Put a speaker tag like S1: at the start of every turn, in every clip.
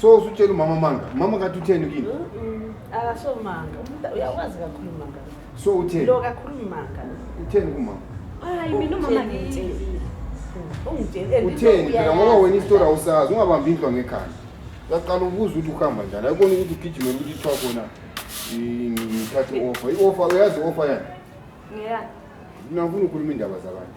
S1: so
S2: usutshela umama manga mama kathi utheni kini akasho
S3: manga uyakwazi kakhulu manga so utheni lo
S2: kakhulu manga
S3: utheni kumama
S2: hayi mina umama
S1: ngitshela
S3: utheni phela ngoba
S2: wena isitori awusazi ungabambi indlwa ngekhanda uyaqala ukubuza ukuthi ukuhamba njani ayikona ukuthi ugijimele ukuthi ithiwa khona ngithathe i-ofa i-ofa uyazi i-ofa yani
S1: ngiyani nangifuna
S2: ukhuluma iindaba zabantu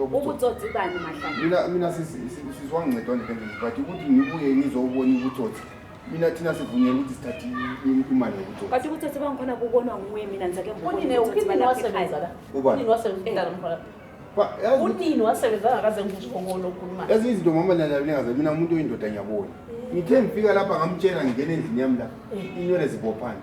S1: ubutsotsi bani mahlala mina
S2: sizwangincedwa nje kanjani but ukuthi ngibuye ngizobona ubutsotsi mina thina sivunyela ukuthi sithathe imali yokutsotsi but ubutsotsi bangikhona kubonwa
S1: nguye mina
S3: ngizake mbonini wasebenza la unini wasebenza eh. mkhona unini wasebenza ngakaze ngizokona okhuluma ezinye izinto mama nina
S2: ningaze mina umuntu oyindoda ngiyabona ngithe ngifika lapha ngamtshela ngingena endlini yami lapha eh. inywele zibophana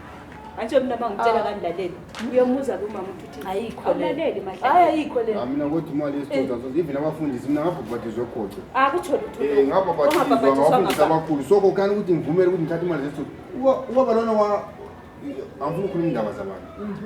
S1: Angisho mina bangitshela ah. kangilaleli. Uyomuza kumama ukuthi ayikho le. Awulaleli mahle.
S3: Hayi
S1: ayikho le. Ah, mina
S3: ukuthi imali yesithuthwa
S2: so even abafundisi mina ngabhabhatizwa khotho. Ah kutsho lutho. Eh
S1: ngabhabhatizwa ngabafundisi
S2: abakhulu. So kokani ukuthi ngivumele ukuthi ngithathe imali zesithuthwa. Uba balona wa angifuni ukukhuluma indaba zabantu. Mhm.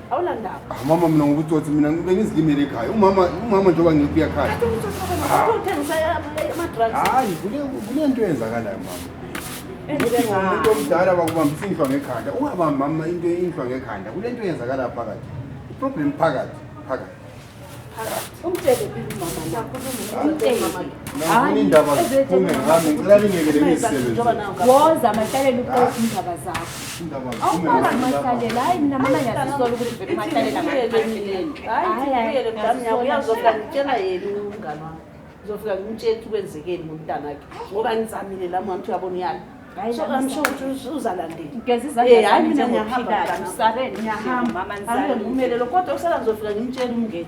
S2: awulandaba
S3: mama mina ngokutsotsi
S2: mina ngibe ngizilimele ekhaya umama umama njengoba ngiphi ekhaya hayi kule nto eyenzakalayo mama umuntu omdala bakubambisa inhlwa ngekhanda ungabambi mama into inhlwa ngekhanda kule nto eyenzakalayo phakathi iproblem phakathi phakathi woza
S1: amahlalela indaba zakho awufaka amahlalela hayi mina mama ngiyazisola ukuthi vele umahlalela
S3: ngizofika ngimtshela ukuthi kwenzekeni ngomntanakhe ngoba ngizamile la mwana ukuthi uyabona uyala amsho ukuthi uzalandelahayi
S1: mina ngiyahambaangisabe
S3: ngiyahambaangisabe
S1: ngimelelo
S3: kodwa usala ngizofika
S1: ngimtshela
S3: umngeni